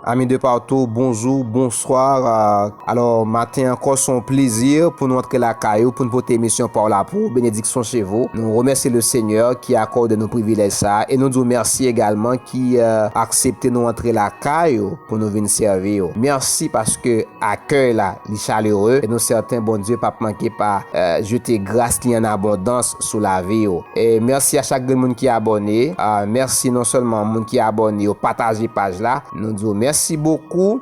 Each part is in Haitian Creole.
Amis de partout bonjou, bonsoir alors maten ankò son plezi pou nou antre lakay ou pou nou pote emisyon paw la pou ou benediksyon che vou nou remèsye le senyè ki akòde nou privilèj sa e nou di ou mèsi egalman ki aksepte nou antre lakay ou pou nou vin sèvi ou mèsi paske akèy la li chalere e nou sèten Bondye pap manke pa jete gras li an abondans sou lavi yo. Merci a chak grenn moun ki abòne. Merci non sèlman moun ki abòne yo pataje paj la. Nou di yo merci bokou.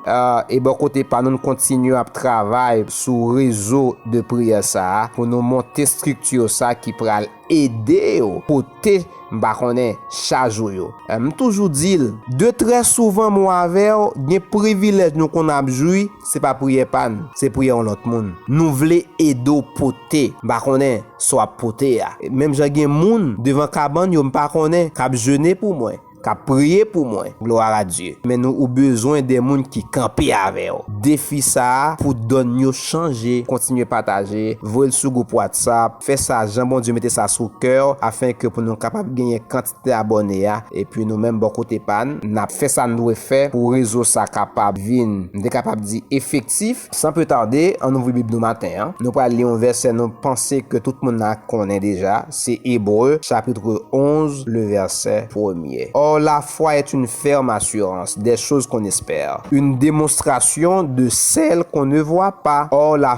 E bò kote pa nou n kontinye ap travay sou rezo de priyè sa a pou nou monte structure sa ki pral ede yo pote m pa konnen chaj ou yo. M toujou di l de trè souvan mwen avè w gen privilèj nou konn ap jwi. Se pa priyè pa n, se priyè yon lòt moun. Nou vle ede w pote. M pa konnen sa w ap pote a. Menm jan gen moun devan kabann yo m pa konnen k ap jene pou mwen, k ap priye pou mwen. Gloire à Dieu. Men nou ou bezwen de moun ki kanpe avè w. Defi sa a pou donn yo chanje. Kontinye pataje, voye l sou gwoup WhatsApp, fè sa jan Bondye mete sa sou kè w afenke pou nou kapab genyen kant. te abòne a epi nou menm bò kote pa n nap fè sa n dwe fè pou rezo sa kapab vin, m te kapab di, efektif. San pli tade, ann ouvri Bib nou maten an. Nou pral li yon vèsè nou panse ke tout moun la konnen deja, se Ebre, chapitre 11, le verset premier. Or la foi est une ferme assurance des choses qu'on espère, une démonstration de celles qu'on ne voit pas. Or la.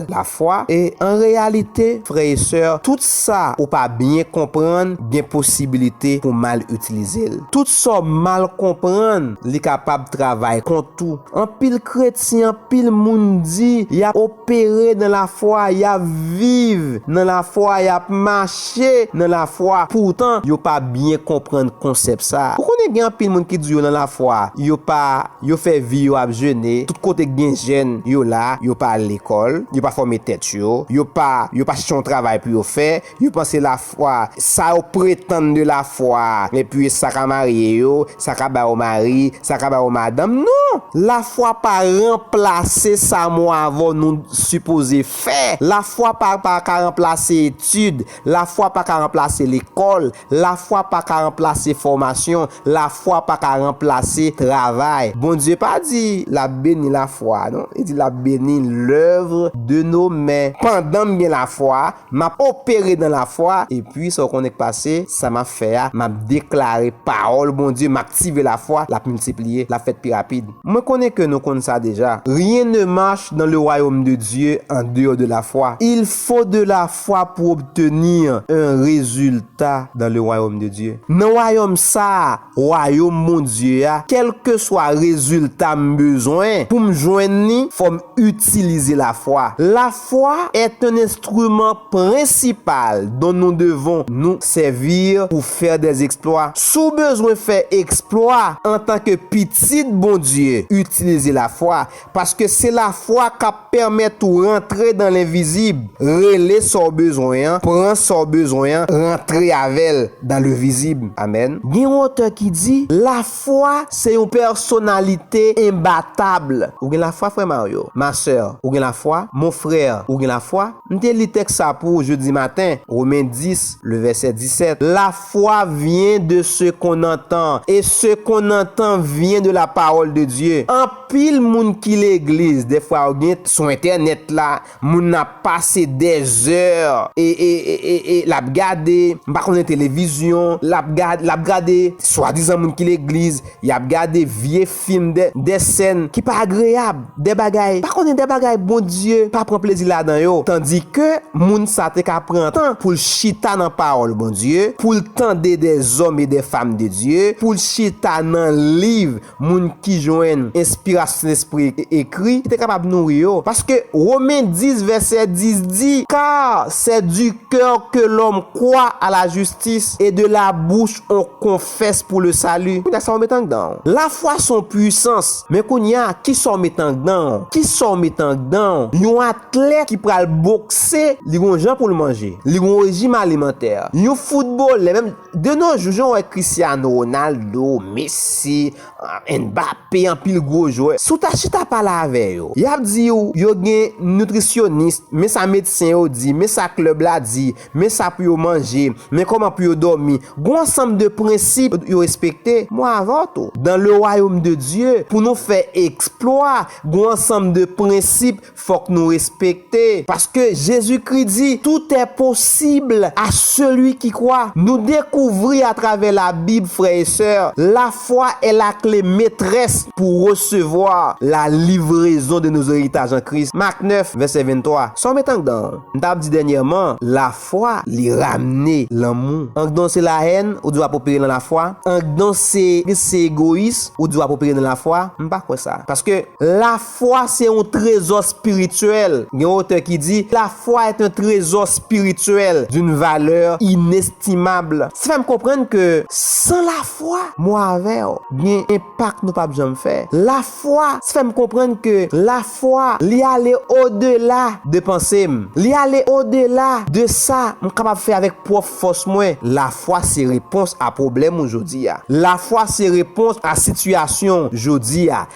lafwa, e an reyalite, frè e sè, tout sa ou pa byen konprann gen posibilite pou mal itilize l. Tout sa w mal konprann, li kapab travay kont ou. Anpil kretyen, anpil moun di y ap opere nan lafwa, y ap viv nan lafwa, y ap mache nan lafwa, poutan yo pa byen konprann konsèp sa a. Ou konnen gen anpil moun ki di yo nan lafwa, yo pa. Yo fè vi yo ap jene, tout kote k gen jèn, yo la, yo pa al lekòl, yo pa fòme tèt yo, yo pa, yo pa chèche yon travay pou yo fè, yo panse lafwa, sa yo pretann de lafwa, men pye sa ka marye yo, sa ka ba yo mari, sa ka ba yo madanm, non! Lafwa pa ranplase sa mwen avè w nou sipoze fè, lafwa pa pa ka ranplase etid, Lafwa pa ka ranplase lekòl, lafwa pa ka ranplase fòmasyon, lafwa pa ka ranplase travay. Bondye pa di l ap beni lafwa a non, li di l ap beni lèuvre de nos men. Pandan m gen lafwa, m ap opere nan lafwa, epi sa w konnen k pase, sa m ap fè a, m ap deklare pawòl Bondye, m aktive lafwa, l ap miltipliye, l ap fèt pi rapid. Mwen konnen ke nou konn sa deja. Rien ne marche dans le royaume de Dieu en dehors de la foi. Il faut de la fwa pou obtenir un résultat dans le royaume de Dieu. Nan wayòm sa a, wayom Bondye a, kèlkeswa rezilta m bezwen pou m jwenn li, fò m itilize lafwa. La foi est un instrument principal dont nous devons nous servir pour faire des exploits. Si w bezwen fè eksplwa antanke pitit Bondye, itilize lafwa, Paske se lafwa k ap pèmèt ou rantre dan lenvizib, rele sa w bezwen an, pran sa w bezwen an, rantre avè l dan levizib. Amèn. Gen yon otè ki di, Lafwa se yon pèsonalite enbatab. Ou gen lafwa, frè Mario? Ma sè, ou gen lafwa? Mon frè, ou gen lafwa? M te li tèks sa pou ou jodi maten, Romen 10, le vèsè 17, Lafwa vyen de se kon n antan, e se kon n antan vyen de lapawòl de Dye. Anpil moun ki legliz defwa yo gen sou entènèt la moun nan ap pase dèzè e lap gade m pa konnen televizyon lap gade lap gade swadizan moun ki legliz yap gade vye fim dè sèn ki pa agreyab dè bagay pa konnen dè bagay Bondye pa pran plezi ladan yo tandike moun sa te ka pran tan poul chita nan pawòl Bondye poul tande dè zòm e dè fam de Dye poul chita nan liv moun ki jwenn enspirasyon Sentespri ekri, ki te kapab nouri yo, paske Women 10 vèsè 10 di, Car c'est du cœur que l'homme croit à la justice, et de la bouche on confesse pour le salut. Kounye a sa ou met andan ou? Lafwa se yon pwisans. Men kounye a, kisa ou met andan ou? Kisa ou met andan ou? Yon atlèt ki pral bokse, li gen yon jan pou l manje. Li gen yon rejim alimantè. Yon foutbolè, menm. De no jou jan w wè Cristiano Ronaldo, Messi, Mbappé anpil gwo jwè, si w ta chita pale avè yo, y ap di w yo gen nitrisyonis, men sa medsen yo di, men sa klèb la di, men sa pou yo manje, men kòman pou yo dòmi, gon ansanm de prensip yo respekte, mwen avè w tou. Dan le wayom de Dye, pou nou fè eksplwa, gon ansanm de prensip, Fok nou respekte. Paske Jezikri di, Tout è posib a seli ki kwa. Nou dekouvri a travè la Bib frè e sè, la fwa è la kle metrès pou resevwa la livrezon de nos eritaj an Kris, Mak 9, vèsè 23. Sa w met andan an? M ta ap di dènyèman, la fwa li ramne lanmou. Andan se la hèn, ou di w ap opere nan la fwa? Andan se se egoyis, ou di w ap opere nan la fwa? M pa kwè sa. Paske la. Fwa se yon trezò spirityèl. Gen otè ki di, La foi est un trésor spirituel d'une valeur inestimable. Sa fè m konprann ke san lafwa, mwen avè w gen enpak nou pap janm fè. Lafwa fè m konprann ke lafwa li ale odela de panse m. Li ale odela de sa m kapab fè avèk pwòp fòs mwen. Lafwa se repons a pwoblèm ou jodi a. Lafwa se repons a sitiyasyon w jodi a.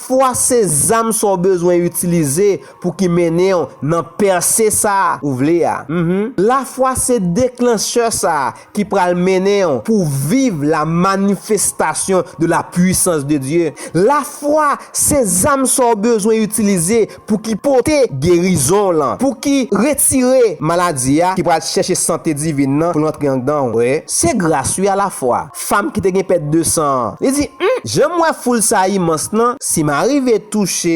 Fwa se zam sa w bezwen itilize pou ki mennen w nan pèse sa ou vle a. Lafwa se deklanchè sa ki pral mennen w pou w viv la manifestasyon de la pwisans de Dye. Lafwa se zam sa w bezwen itilize pou ki pote gerizon w lan, pou ki retire maladi a ki pral chèche sante divin nan pou l antre andan w. Wè, se gras wi alafwa. Fam ki te gen pèt de san an, li di, Hum! Jan m wè foul sa a imans lan, si m arive touche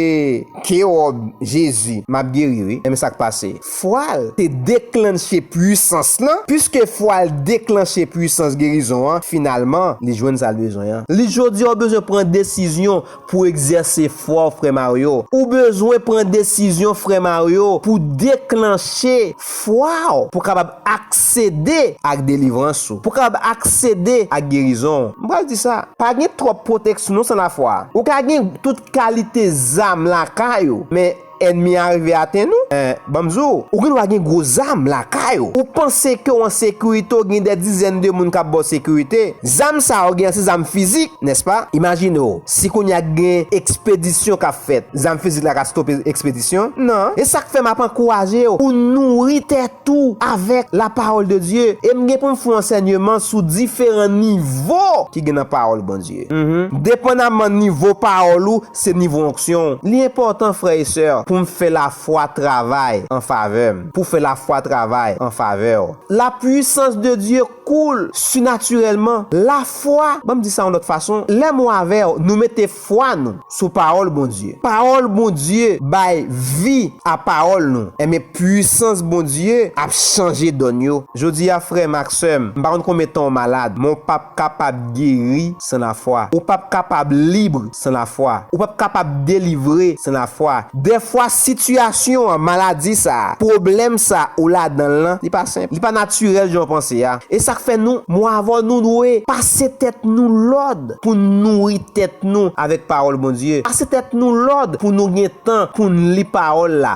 ke wòb Jezi, m ap geri wi. Enben sa k pase? Fwa l te deklannche puisans lan, piske fwa l deklannche puisans gerizon an, finalman, li jwenn sa l bezwen an. Li jodi a ou bezwen pran desizyon Pou egzèse fwa w frè Mario. Ou bezwen pran desizyon frè Mario pou deklanche fwa w pou kapab aksede ak delivrans ou, pou kapab aksede ak gerizon w. M pral di sa. Pa gen twòp pwoteksnon san lafwa. Ou ka gen tout kalite zam lakay ou, men. Ènmi a rive atenn ou? Eh, ban m di w, ou gendwa gen gwo zam lakay ou. Ou panse ke w an sekirite, w gen dè dizèn de moun k ap ba w sekirite. Zam sa yo gen an se zam fizik, nèspa? Imajine w, si kounye a gen ekspedisyon k ap fèt, zam fizik la ka stope ekspedisyon? Non. E sa k fè m ap ankouraje w pou w nouri tèt ou avèk lapawòl de Dye. E m gen pou m fè w ansènyeman sou diferan nivo ki gen nan pawòl Bondye. Depandaman nivo pawòl ou, Se nivo onksyon w. Li enpòtan, frè e sè, pou m fè lafwa travay an favè m, pou fè lafwa travay an favè w. Lapwisans de Dye koule sinatirèlman. Lafwa, ban m di sa yon lòt fason, lè mwen avè w, nou mete fwa nou sou pawòl Bondye. Pawòl Bondye bay vi a pawòl nou. Enben, pwisans Bondye ap chanje donn yo. Jodi a, frè m ak sè m, m pa konn konbyen tan w malad, men w p ap kapab geri. san lafwa. Ou pap kapab libre san lafwa. Ou pap kapab delivre san lafwa. Dèfwa sitiyasyon an, maladi sa a, pwoblèm sa a ou ladan l lan, li pa senp. Li pa natirèl jan w panse a. E sa k fè nou, mwen avè w, nou dwe pase tèt nou lòd pou n nouri tèt nou avèk Pawòl Bondye. Pase tèt nou lòd pou nou gen tan pou n li Pawòl la.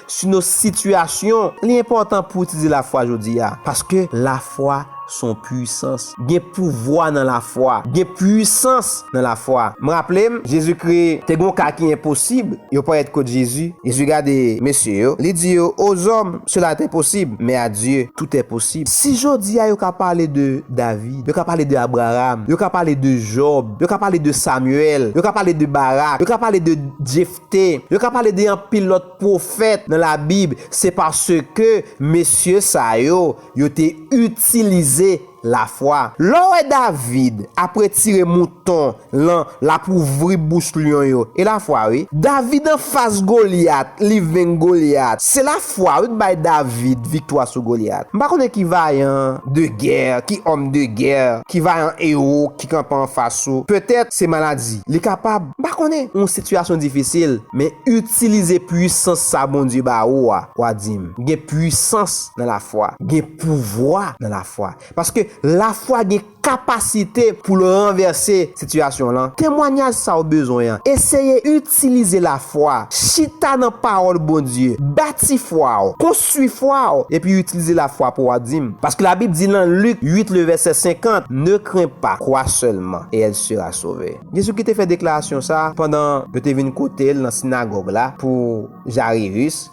sou yon sitiyasyon. Li enpòtan pou w itilize lafwa jodi a, paske lafwa se yon puisans. Gen pouvwa nan lafwa. Gen puisans nan lafwa. M raple m, Jezikri te gen yon ka ki enposib, yo parèt kot Jezi. Jezi gade mesye yo, li di yo, Ozòm, sela est enposib, men a Dye, tout est posib. Si jodi a yo ka pale de David, yo ka pale de Abraram, yo ka pale de Jòb, yo ka pale de Samyèl, yo ka pale de Barak, yo ka pale de Jefta, te. Yo ka pale de anpil lòt pwofèt nan Labib, se paske mesye sa yo, yo te itilize lafwa. Lè w wè David ap retire mouton lan, l ap ouvri bouch lyon yo, e lafwa wi. David anfas Golyat, li venk Golyat, se lafwa wi k bay David viktwa sou Golyat. M pa konnen ki vayan de gè, ki òm de gè, ki vayan ewo, ki kanpe anfas ou, petèt se maladi, li kapab, m pa konnen, yon sitiyasyon difisil, men itilize puisans sa Bondye ba ou a, w a di m, gen puisans nan lafwa, gen pouvwa nan lafwa, paske lafwa gen kapasite pou l ranvèse sitiyasyon w lan, temwanyaj sa ou bezwen an, eseye. Itilize lafwa, chita nan pawòl Bondye, bati fwa w, konstwi fwa w, epi itilize lafwa pou w a dim. Paske labib di lan Lik 8 le vèsè 50, Ne crains pas, crois seulement, et elle sera sauvee. Jezi ki te fè deklarasyon sa a pandan yo te vin kote l nan sinagòg la pou Jarirus,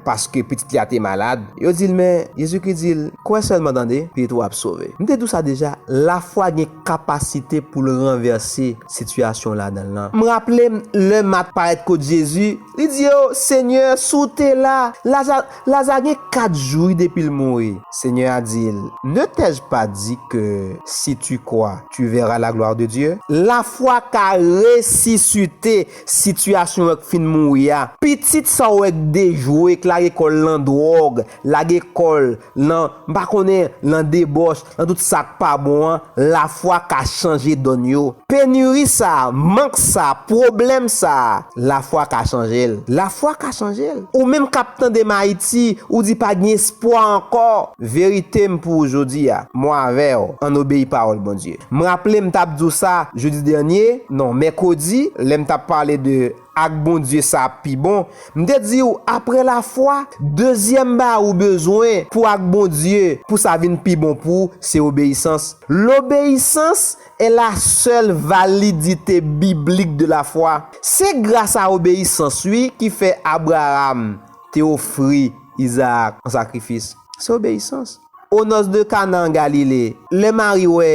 paske pitit li a te malad. Yo di l men, Jezi ki di l, Kwè sèlman tande, pitit ou a ap sove. M te di w sa deja, lafwa gen. kapasite pou l ranvèse sitiyasyon w ladan l lan. M raple m lè Mat parèt kot Jezi, li di yo, Senyè, si w te la, Laza Laza gen kat jou wi depi l mouri. Senyè a di l, Ne t'ai-je pas dit que, si tu crois, tu verras la gloire de Dieu? Lafwa ka resisite sitiyasyon an k fin mouri a. Pitit sa w wè k dejwe, k lage kò l nan dwòg, Lage kò l nan, m pa konnen, nan debòch, nan tout sa k pa bon an, lafwa ka chanje donn yo. Peniri sa a, mank sa a, pwoblèm sa a, lafwa ka chanje l. Lafwa ka chanje l. Ou menm k ap tande m Ayiti, ou di pa gen espwa ankò. Verite m pou ou jodi a, mwen avè w, ann obeyi pawòl Bondye. M raple m t ap di w sa jedi dènye, non, mèkredi, lè m t ap pale de. Ak Bondye sa ap pi bon. M te di ou, aprè lafwa, dezyèm bagay ou bezwen pou ak Bondye, pou sa vin pi bon pou ou, se obeyisans. L'obéissance est la seule validité biblique de la foi. Se gras a obeyisans wi ki fè Abraham te ofri Isaac an sakrifis. Se obeyisans. O nòs de Kana an Galile, lè Mari wè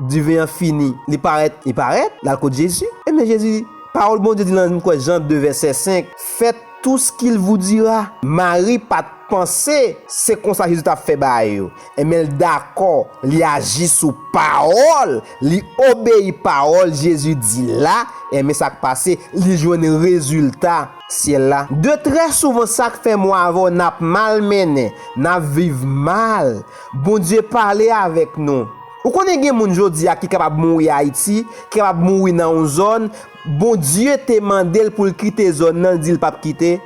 diven an fini, li parèt, li parèt, l'al kot Jezi. Ebyen Jezi, pawòl Bondye di lan kwen Jan 2 vèsè 5, Fèt tou s ki l vou dira. Mari pa t panse se konsa Jezi t'ap fè bagay yo, ebyen l dakò, li aji sou pawòl, li obeyi pawòl Jezi di la, ebyen sa k pase, li jwenn rezilta. syèl la. De trè souvan sak fè mwen avè w nap mal mennen, nap viv mal, Bondye pale avèk nou. Ou konnen gen moun jodi a ki kapab mouri Ayiti, ki kapab mouri nan yon zòn, Bondye te mande l pou l kite zòn nan, l di l pap kite?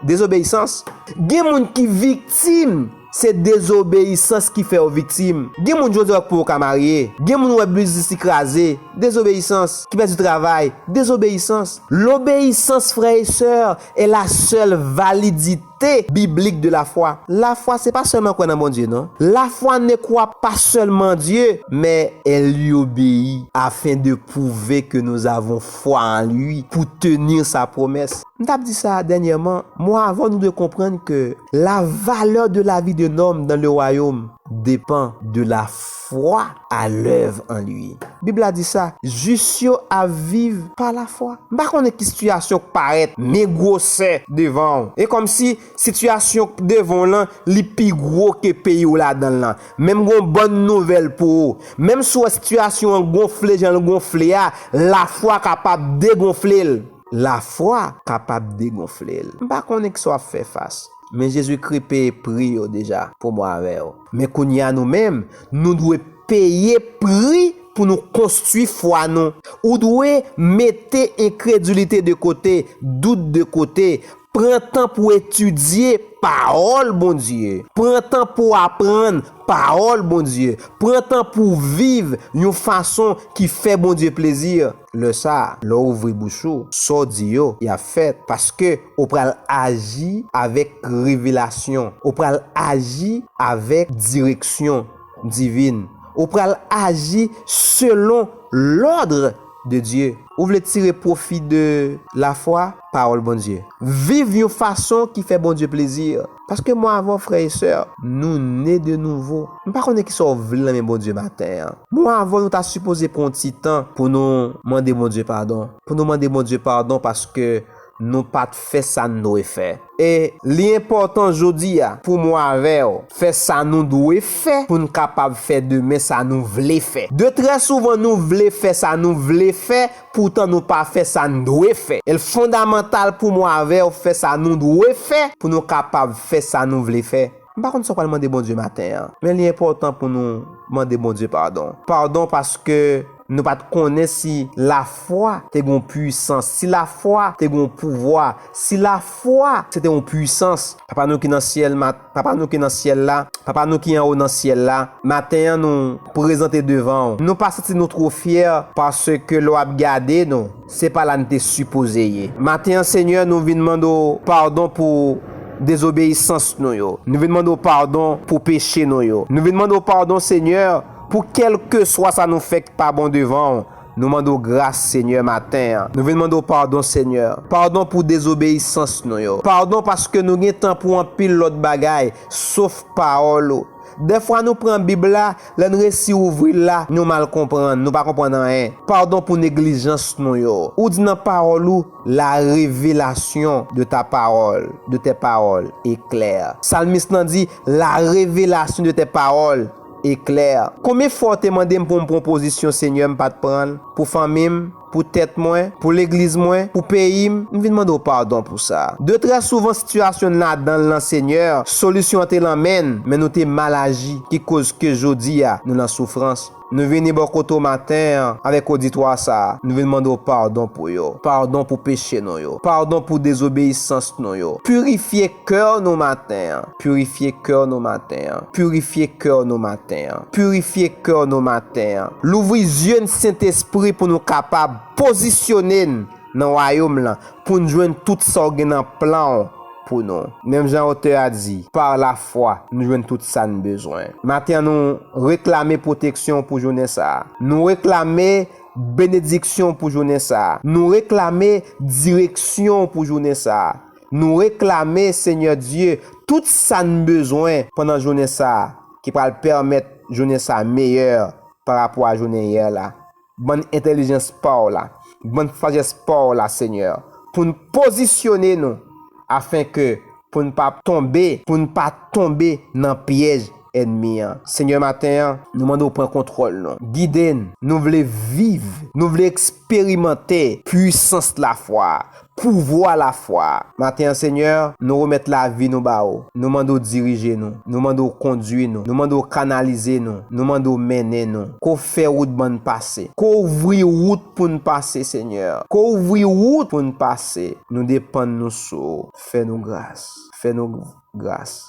Dezobeyisans. Gen moun ki viktim. Se dezobeyisans ki fè w viktim. Gen moun jodi a wè k pou yo ka marye. Gen moun wè biznis li kraze. Dezobeyisans. Ki pèdi travay. Dezobeyisans. Lobeyisans, frè e sè, e la sèl validite biblik de lafwa. Lafwa se pa sèlman kwè nan Bondye non. Lafwa ne kwa pa sèlman Dye, mè e li obeyi, afen de pwouve ke nou zavon fwa an Li, pou tenir sa pwomès. M tap di sa dènyèman, mwa avan nou dwe konprann ke la valè de la vi de nòm dan le wayom depan de la fwa a lèv an li. Bib la di sa, jis yo ap viv pa la fwa. M pa konnen ki sitiyasyon k parèt men gwosè devan w. E kòmsi sitiyasyon k devan w lan li pi gwo ke peyi w ladan l lan. Men m gon bòn nouvèl pou ou, menm si w wè sitiyasyon an gonfle jan l gonfle a, la fwa kapab degonfle l. Lafwa kapab degonfle l. M pa konnen kisa w ap fè fas, men Jezikri peye pri yo deja pou mwen avè w. Men kounye a nou menm, nou dwe peye pri pou nou konstwi fwa nou. Ou dwe mete enkredilite de kote, dout de kote, Pran tan pou etidye Pawòl Bondye. Pran tan pou aprann Pawòl Bondye. Pran tan pou w viv yon fason ki fè Bondye plezi. Lè sa a, lè w ouvri bouch ou, sa w di yo, y ap fèt, paske w pral aji avèk revelasyon, w pral aji avèk direksyon divin, w pral aji selon lòd. de Dye. Ou vle tire pwofi de lafwa pawòl Bondye. Viv yon fason ki fè Bondye plezi. Paske mwen avè w frè e sè, nou ne de nouvo. M pa konnen kisa w vle nan men Bondye maten an. Mwen avè w nou ta sipoze pran yon ti tan pou nou mande Bondye padon. Pou nou mande Bondye padon paske. nou pa t fè sa n dwe fè. E li enpòtan jodi a pou mwen avè w fè sa nou dwe fè pou n kapab fè demen sa nou vle fè. De trè souvan nou vle fè sa nou vle fè poutan nou pa fè sa n dwe fè. E l fondamantal pou mwen avè w fè sa nou dwe fè pou nou kapab fè sa nou vle fè. M pa konn sa w pral mande Bondye maten an, men li enpòtan pou nou mande Bondye padon. Padon paske. Nou pa t konnen si lafwa te gen yon puisans, si lafwa te gen yon pouvwa, si lafwa se te yon puisans. Papa nou ki nan Syèl, ma, Papa nou ki nan Syèl la, Papa nou ki anwo nan Syèl la, maten an nou prezante devan ou. Nou pa santi nou two fyè paske lè w ap gade nou, se pa la n te sipoze ye. Maten an Senyè, nou vin mande w padon pou dezobeyisans nou yo. Nou vin mande w padon pou peche nou yo. Nou vin mande w padon Senyè. Pou kèlkeswa sa nou fè k pa bon devan w, nou mande w gras, Senyè, maten an. Nou vin mande w padon, Senyè. Padon pou dezobeyisans nou yo. Padon paske nou gen tan pou anpil lòt bagay, sof Pawòl ou. Dèfwa nou pran Bib la, lè n resi ouvri l la, nou mal konprann, nou pa konprann anyen. Padon pou neglijans nou yo. Ou di nan Pawòl ou, La révélation de ta parole, de tes paroles, est claire. Salmis lan di, La révélation de tes paroles. e klè. Konbyen fwa w te mande m pou m pran pozisyon Senyè m pat pran l, pou fanmi m, pou tèt mwen, pou legliz mwen, pou peyi m, m vin mande w padon pou sa. De trè souvan sitiyasyon n ladan l lan Senyè, solisyon an te lan men n, men nou te mal aji ki koz ke jodi a nou lan soufrans. Nou vini bò kote w maten an avèk oditwa sa, nou vin mande w padon pou yo, padon pou peche nou yo, padon pou dezobeyisans nou yo. Pirifye kè nou maten an. Purifye kè nou maten an. Purifye kè nou maten an. Purifye kè nou maten an. Louvri zye n Sentespri pou nou kapab pozisyone n nan wayom lan pou n jwenn tout sa w gen nan plan w pou nou. Menm jan otè a di, par la fwa nou jwenn tout sa n bezwen. Maten an nou reklame pwoteksyon w pou jounen sa a. Nou reklame benediksyon w pou jounen sa a. Nou reklame direksyon w pou jounen sa a. Nou reklame, Senyè Dye, tout sa n bezwen pandan jounen sa a, ki pral pèmèt jounen sa a meyè parapò a jounen yè la. Ban n entèlijans pa w la, ban n sajès pa w la, Senyè, pou n pozisyone nou, afenke pou n pa tonbe, pou n pa tonbe nan pyèj ènmi an. Senyè, maten an, nou mande w pran kontwòl nou. Gide n. Nou vle viv, nou vle eksperimante. eksperimante pwisans lafwa a, pouvwa lafwa a. Maten an, Senyè, nou remèt lavi nou ba Ou. Nou mande W dirije nou. Nou mande W kondui nou. Nou mande W kanalize nou. Nou mande W mennen nou. Ke W fè wout ban n pase. Ke W ouvri wout pou n pase, Senyè. Ke W ouvri wout pou n pase. Nou depann nou sou W. Fè nou gras. Fè nou gras.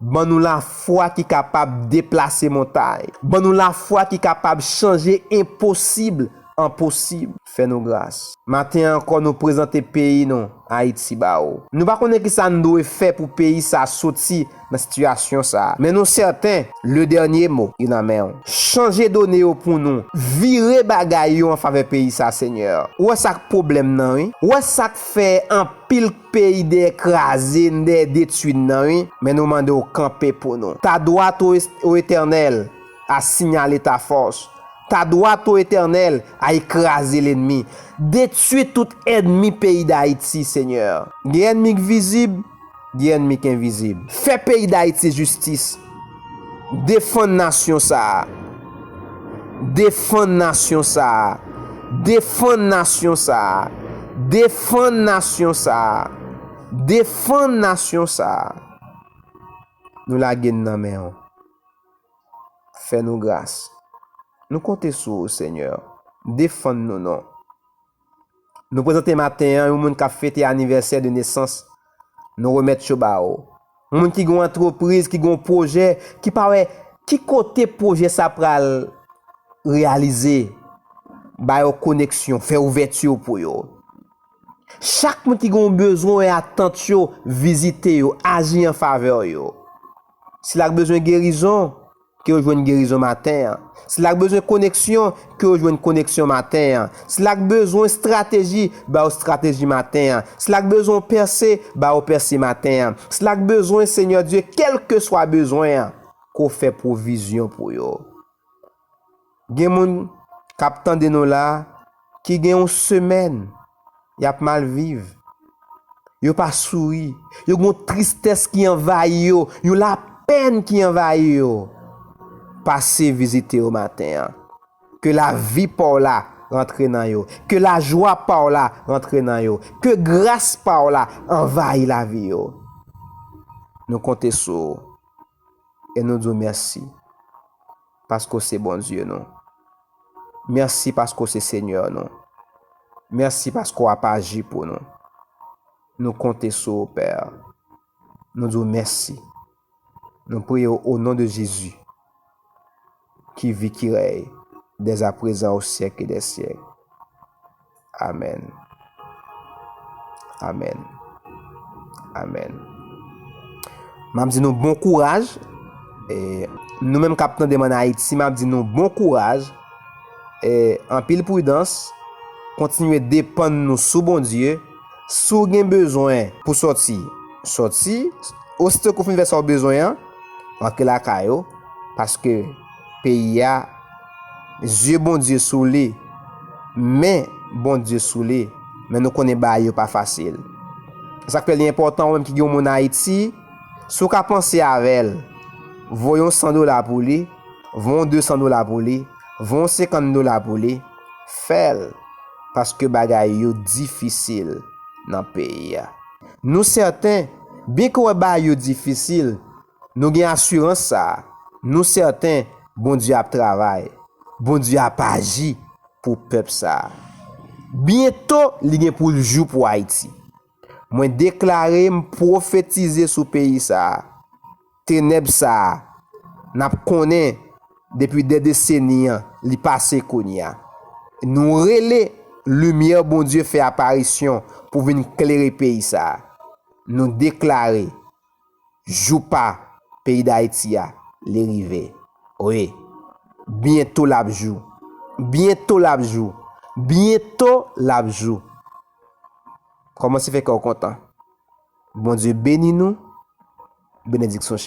Ban nou lafwa ki kapab deplase montay. Ban nou lafwa ki kapab chanje enposib an posib. Fè nou gras. Maten an ankò nou prezante peyi nou, Ayiti ba ou. Nou pa konnen ki sa n dwe fè pou peyi sa a soti nan sitiyasyon sa a. Men nou sèten, le dènye mo, li nan men ou. Chanje done yo pou nou. Vire bagay yo an favè peyi sa a, Senyè. Ou wè sa k pwoblèm nan wi. Ou wè sa k fè anpil. Peyi dèyè kraze n dèyè detwi n nan wi men nou mande w kanpe pou nou Ta dwat o o etènèl a sinyale ta fòs Ta dwat o etènèl a e kraze lenmi Detwi tout ènmi peyi dayiti senyè Gen ènmi k vizib gen ènmi k envizib Fè peyi dayiti jistis Defann nasyon sa a. Defann nasyon sa a. Defann nasyon sa a. Defann nasyon sa a. Defann nasyon sa a. Nou lage n nan men w. Fè nou gras. Nou konte sou ou, Senyè. Defann nou non. Nou prezante maten an yon moun kap fete anivèsè de nesans, nou remèt yo ba ou. Moun ki gen yon antrepriz, ki gen yon pwojè, ki pa wè ki kote pwojè sa pral reyalize, ba yo koneksyon, fè ouvèti ou pou yo. Chak moun ki gen yon bezwen ou yon atant yo, vizite yo, aji an favè yo. Sila k bezwen gerizon, Ke yo jwenn gerizon maten an. Sila k bezwen koneksyon, ke yo jwenn koneksyon maten an. Sila k bezwen strateji, ba yo strateji maten an. Sila k bezwen yon pèse, ba yo pèse maten an. Sila k bezwen, Senyè Dye, kèlkeswa bezwen an, ke w fè pwovizyon pou yo. Gen moun kap tande nou la ki gen yon semèn yap mal viv, yo pa souri, yo gen yon tristès ki anvayi yo, yon lapèn ki anvayi yo. Pase vizite yo maten an. Ke lavi pa w la rantre nan yo, ke lajwa pa w la rantre nan yo, ke gras pa w la anvayi lavi yo. Nou konte sou ou. e nou di w mèsi paske w se Bondye nou. Mèsi paske w se Senyè nou. Mèsi paske w ap aji pou nou. Nou konte sou ou, Pè. Nou di w mèsi. Nou priye w o non de Jezi. ki vi ki rèy dèzaprezan o syèk e dè syèk. Amèn. Amèn. Amèn. M ap di nou bon kouraj. E nou menm kap tande m an Ayiti, m ap di nou bon kouraj. E anpil pridans. Kontinye depann nou sou Bondye. Si w gen bezwen pou sòti, sòti. Osito ke w fin fè sa w bezwen an, rantre lakay ou, paske peyi a, zye Bondye sou li, men Bondye sou li, men nou konnen bagay yo pa fasil. Se sa k fè li enpòtan ou menm ki gen yon moun Ayiti, si w ka panse avè l, voye yon 100 dola pou li, voye yon 200 dola pou li, voye yon 50 dola pou li. Fèl paske bagay yo difisil nan peyi a. Nou sèten, byen ke w wè bay yo difisil, nou gen asirans sa a, nou sèten Bondye ap travay, Bondye ap aji pou pèp sa a. Byento li gen pou l jou pou Ayiti. Mwen deklare, m pwofetize sou peyi sa a, tenèb sa a, n ap konnen depi dè deseni an, li pase kounye a. Nou rele, limyè Bondye fè aparisyon pou vin klere peyi sa a. Nou deklare, jou pa peyi dayiti a li rive wi byento lap jou byento lap jou byento lap jou kòmanse fè kèw kontan Bondye beni nou benediksyon.